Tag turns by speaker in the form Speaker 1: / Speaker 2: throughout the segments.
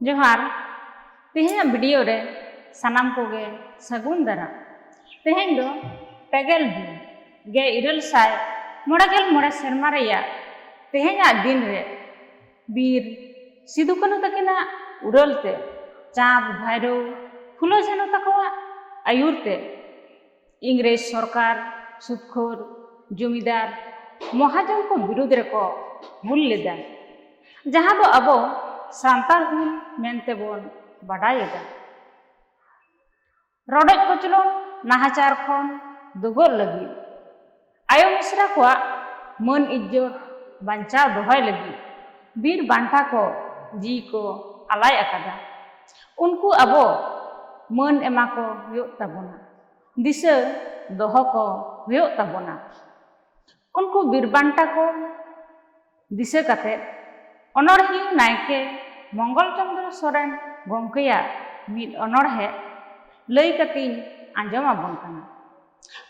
Speaker 1: ᱡᱚᱦᱟᱨ ᱛᱮᱦᱮᱧᱟᱜ ᱵᱷᱤᱰᱤᱭᱳ ᱨᱮ ᱥᱟᱱᱟᱢ ᱠᱚᱜᱮ ᱥᱟᱹᱜᱩᱱ ᱫᱟᱨᱟ ᱛᱮᱦᱮᱧ ᱫᱚ ᱯᱮᱜᱮᱞ ᱫᱤᱱ ᱜᱮ ᱤᱨᱟᱹᱞ ᱥᱟᱭ ᱢᱚᱬᱮ ᱜᱮᱞ ᱢᱚᱬᱮ ᱥᱮᱨᱢᱟ ᱨᱮᱭᱟᱜ ᱛᱮᱦᱮᱧᱟᱜ ᱫᱤᱱ ᱨᱮ ᱵᱤᱨ ᱥᱤᱫᱩ ᱠᱟᱹᱱᱩ ᱛᱟᱹᱠᱤᱱᱟᱜ ᱩᱨᱟᱹᱞ ᱛᱮ ᱪᱟᱸᱫᱽ ᱵᱷᱟᱭᱨᱳ ᱯᱷᱩᱞᱳ ᱡᱷᱟᱱᱳ ᱛᱟᱠᱚᱣᱟᱜ ᱟᱹᱭᱩᱨ ᱛᱮ ᱤᱝᱨᱮᱡᱽ ᱥᱚᱨᱠᱟᱨ ᱥᱩᱫᱽᱠᱷᱳᱨ ᱡᱚᱢᱤᱫᱟᱨ ᱢᱚᱦᱟᱡᱚᱱ ᱠᱚ ᱵᱤᱨᱩᱫᱽ ᱨᱮᱠᱚ ᱦᱩᱞ ᱞᱮᱫᱟ ᱡᱟᱦᱟᱸ ᱫᱚ ᱟᱵᱚ ᱥᱟᱱᱛᱟᱲ ᱦᱩᱞ ᱢᱮᱱᱛᱮ ᱵᱚᱱ ᱵᱟᱰᱟᱭᱮᱫᱟ ᱨᱚᱰᱚᱡ ᱠᱚᱪᱞᱚᱱ ᱱᱟᱦᱟᱪᱟᱨ ᱠᱷᱚᱱ ᱫᱩᱜᱚᱜ ᱞᱟᱹᱜᱤᱫ ᱟᱭᱳ ᱢᱤᱥᱨᱟ ᱠᱚᱣᱟᱜ ᱢᱟᱹᱱ ᱤᱡᱽᱡᱚᱛ ᱵᱟᱧᱪᱟᱣ ᱫᱚᱦᱚᱭ ᱞᱟᱹᱜᱤᱫ ᱵᱤᱨ ᱵᱟᱱᱴᱟ ᱠᱚ ᱡᱤᱣᱤ ᱠᱚ ᱟᱞᱟᱭ ᱟᱠᱟᱫᱟ᱾ ᱩᱱᱠᱩ ᱟᱵᱚ ᱢᱟᱹᱱ ᱮᱢᱟ ᱠᱚ ᱦᱩᱭᱩᱜ ᱛᱟᱵᱚᱱᱟ, ᱫᱤᱥᱟᱹ ᱫᱚᱦᱚ ᱠᱚ ᱦᱩᱭᱩᱜ ᱛᱟᱵᱚᱱᱟ᱾ ᱩᱱᱠᱩ ᱵᱤᱨ ᱵᱟᱱᱴᱟ ᱠᱚ᱾ ᱫᱤᱥᱟᱹ ᱠᱟᱛᱮ ᱚᱱᱚᱬᱦᱤᱭᱟᱹ ᱱᱟᱭᱠᱮ ᱢᱚᱝᱜᱚᱞ ᱪᱚᱱᱫᱨᱚ ᱥᱚᱨᱮᱱ ᱜᱚᱢᱠᱮᱭᱟᱜ ᱢᱤᱫ ᱚᱱᱚᱬᱦᱮ ᱞᱟᱹᱭ ᱠᱟᱛᱮᱧ ᱟᱸᱡᱚᱢ ᱟᱵᱚᱱ ᱠᱟᱱᱟ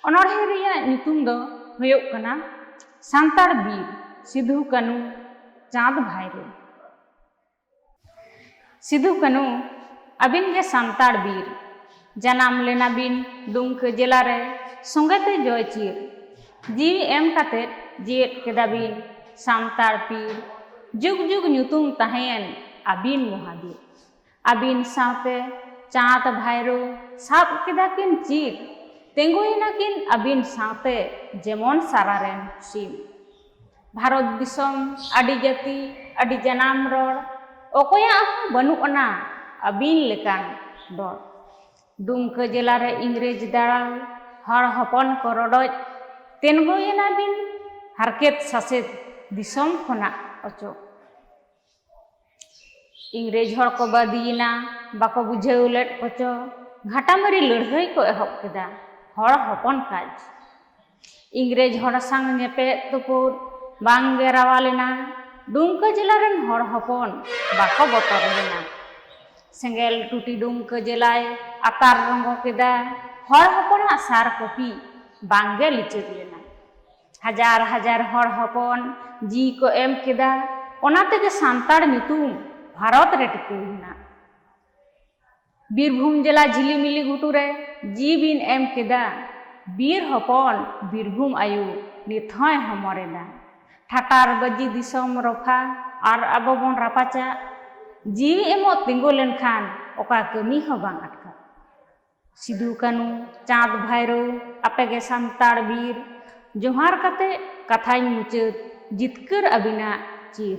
Speaker 1: ᱚᱱᱚᱬᱦᱮ ᱨᱮᱭᱟᱜ ᱧᱩᱛᱩᱢ ᱫᱚ ᱦᱩᱭᱩᱜ ᱠᱟᱱᱟ ᱥᱟᱱᱛᱟᱲ ᱵᱤᱨ ᱥᱤᱫᱷᱩ ᱠᱟᱹᱱᱩ ᱪᱟᱸᱫᱽ ᱵᱷᱟᱭᱨᱳ ᱥᱤᱫᱩ ᱠᱟᱹᱱᱩ ᱟᱹᱵᱤᱱ ᱜᱮ ᱥᱟᱱᱛᱟᱲ ᱵᱤᱨ ᱡᱟᱱᱟᱢ ᱞᱮᱱᱟ ᱵᱤᱱ ᱫᱩᱢᱠᱟᱹ ᱡᱮᱞᱟ ᱨᱮ ᱥᱚᱸᱜᱮ ᱛᱮ ᱡᱚᱭ ᱪᱤᱨ ᱡᱤᱣᱤ ᱮᱢ ᱠᱟᱛᱮ ᱡᱮᱣᱮᱫ ᱠᱮᱫᱟ ᱵᱤᱱ ᱥᱟᱱᱛᱟᱲ ᱯᱤᱨ ᱡᱩᱜᱽ ᱡᱩᱜᱽ ᱧᱩᱛᱩᱢ ᱛᱟᱦᱮᱸᱭᱮᱱ ᱟᱹᱵᱤᱱ ᱢᱚᱦᱟᱵᱤᱨ ᱟᱹᱵᱤᱱ ᱥᱟᱶᱛᱮ ᱪᱟᱸᱫᱽ ᱵᱷᱟᱭᱨᱳ ᱥᱟᱵ ᱠᱮᱫᱟ ᱠᱤᱱ ᱪᱤᱨ ᱛᱮᱸᱜᱳᱭᱮᱱᱟ ᱠᱤᱱ ᱟᱹᱵᱤᱱ ᱥᱟᱶᱛᱮ ᱡᱮᱢᱚᱱ ᱥᱟᱨᱟ ᱨᱮᱱ ᱥᱤᱢ ᱵᱷᱟᱨᱚᱛ ᱫᱤᱥᱚᱢ ᱟᱹᱰᱤ ᱡᱟᱹᱛᱤ ᱟᱹᱰᱤ ᱡᱟᱱᱟᱢ ᱨᱚᱲ ᱚᱠᱚᱭᱟᱜ ᱦᱚᱸ ᱵᱟᱹᱱᱩᱜ ᱟᱱᱟ ᱟᱹᱵᱤᱱ ᱞᱮᱠᱟᱱ ᱫᱚᱲ ᱫᱩᱢᱠᱟᱹ ᱡᱮᱞᱟ ᱨᱮ ᱤᱝᱨᱮᱡᱽ ᱫᱟᱲᱟᱞ ᱦᱚᱲ ᱦᱚᱯᱚᱱ ᱠᱚ ᱨᱚᱰᱚᱡ ᱛᱮᱱᱜᱚᱭᱮᱱᱟ ᱵᱤᱱ ᱦᱟᱨᱠᱮᱛ ᱥᱟᱥᱮᱛ ᱫᱤᱥᱚᱢ ᱠᱷᱚᱱᱟᱜ ᱚᱪᱚᱜ ᱤᱝᱨᱮᱡᱽ ᱦᱚᱲ ᱠᱚ ᱵᱟᱫᱤᱭᱮᱱᱟ ᱵᱟᱠᱚ ᱵᱩᱡᱷᱟᱹᱣ ᱞᱮᱫ ᱠᱚᱪᱚ ᱜᱷᱟᱴᱟᱢᱟᱹᱨᱤ ᱞᱟᱹᱲᱦᱟᱹᱭ ᱠᱚ ᱮᱦᱚᱵ ᱠᱮᱫᱟ ᱦᱚᱲ ᱦᱚᱯᱚᱱ ᱠᱟᱡᱽ ᱤᱝᱨᱮᱡᱽ ᱦᱚᱲ ᱥᱟᱝ ᱧᱮᱯᱮᱫ ᱛᱩᱯᱩᱫ ᱵᱟᱝ ᱜᱮ ᱨᱟᱣᱟ ᱞᱮᱱᱟ ᱰᱩᱢᱠᱟᱹ ᱡᱮᱞᱟ ᱨᱮᱱ ᱦᱚᱲ ᱦᱚᱯᱚᱱ ᱵᱟᱠᱚ ᱵᱚᱛᱚᱨ ᱞᱮᱱᱟ ᱥᱮᱸᱜᱮᱞ ᱴᱩᱴᱤ ᱰᱩᱢᱠᱟᱹ ᱡᱮᱞᱟᱭ ᱟᱛᱟᱨ ᱨᱚᱸᱜᱚ ᱠᱮᱫᱟ ᱦᱚᱲ ᱦᱚᱯᱚᱱᱟᱜ ᱥᱟᱨ ᱠᱚᱯᱤ ᱵᱟᱝ ᱜᱮ ᱞᱤᱪᱟᱹᱲ ᱞᱮᱱᱟ ᱦᱟᱡᱟᱨ ᱦᱟᱡᱟᱨ ᱦᱚᱲ ᱦᱚᱯᱚᱱ ᱡᱤᱣᱤ ᱠᱚ ᱮᱢ ᱠᱮᱫᱟ ᱚᱱᱟ ᱛᱮᱜᱮ ᱥᱟᱱᱛᱟᱲ ᱧᱩᱛᱩᱢ ᱵᱷᱟᱨᱚᱛ ᱨᱮ ᱴᱤᱠᱟᱹᱣ ᱮᱱᱟ ᱵᱤᱨᱵᱷᱩᱢ ᱡᱮᱞᱟ ᱡᱷᱤᱞᱤᱢᱤᱞᱤ ᱜᱷᱩᱴᱩ ᱨᱮ ᱡᱤᱣᱤ ᱵᱤᱱ ᱮᱢ ᱠᱮᱫᱟ ᱵᱤᱨ ᱦᱚᱯᱚᱱ ᱵᱤᱨᱵᱷᱩᱢ ᱟᱭᱳ ᱱᱤᱛ ᱦᱚᱸᱭ ᱦᱚᱢᱚᱨ ᱮᱫᱟ ᱴᱷᱟᱴᱟᱨ ᱵᱟᱹᱡᱤ ᱫᱤᱥᱚᱢ ᱨᱚᱯᱷᱟ ᱟᱨ ᱟᱵᱚ ᱵᱚᱱ ᱨᱟᱯᱟᱪᱟᱜ ᱡᱤᱣᱤ ᱮᱢᱚᱜ ᱛᱤᱸᱜᱩ ᱞᱮᱱᱠᱷᱟᱱ ᱚᱠᱟ ᱠᱟᱹᱢᱤ ᱦᱚᱸ ᱵᱟᱝ ᱟᱴᱠᱟᱜ ᱥᱤᱫᱩ ᱠᱟᱹᱱᱩ ᱪᱟᱸᱫᱽ ᱵᱷᱟᱭᱨᱳ ᱟᱯᱮ ᱜᱮ ᱥᱟᱱᱛᱟᱲ ᱵᱤᱨ ᱡᱚᱦᱟᱨ ᱠᱟᱛᱮ ᱠᱟᱛᱷᱟᱧ ᱢᱩᱪᱟᱹᱫ ᱡᱤᱛᱠᱟᱹᱨ ᱟᱹᱵᱤᱱᱟᱜ ᱪᱤᱨ᱾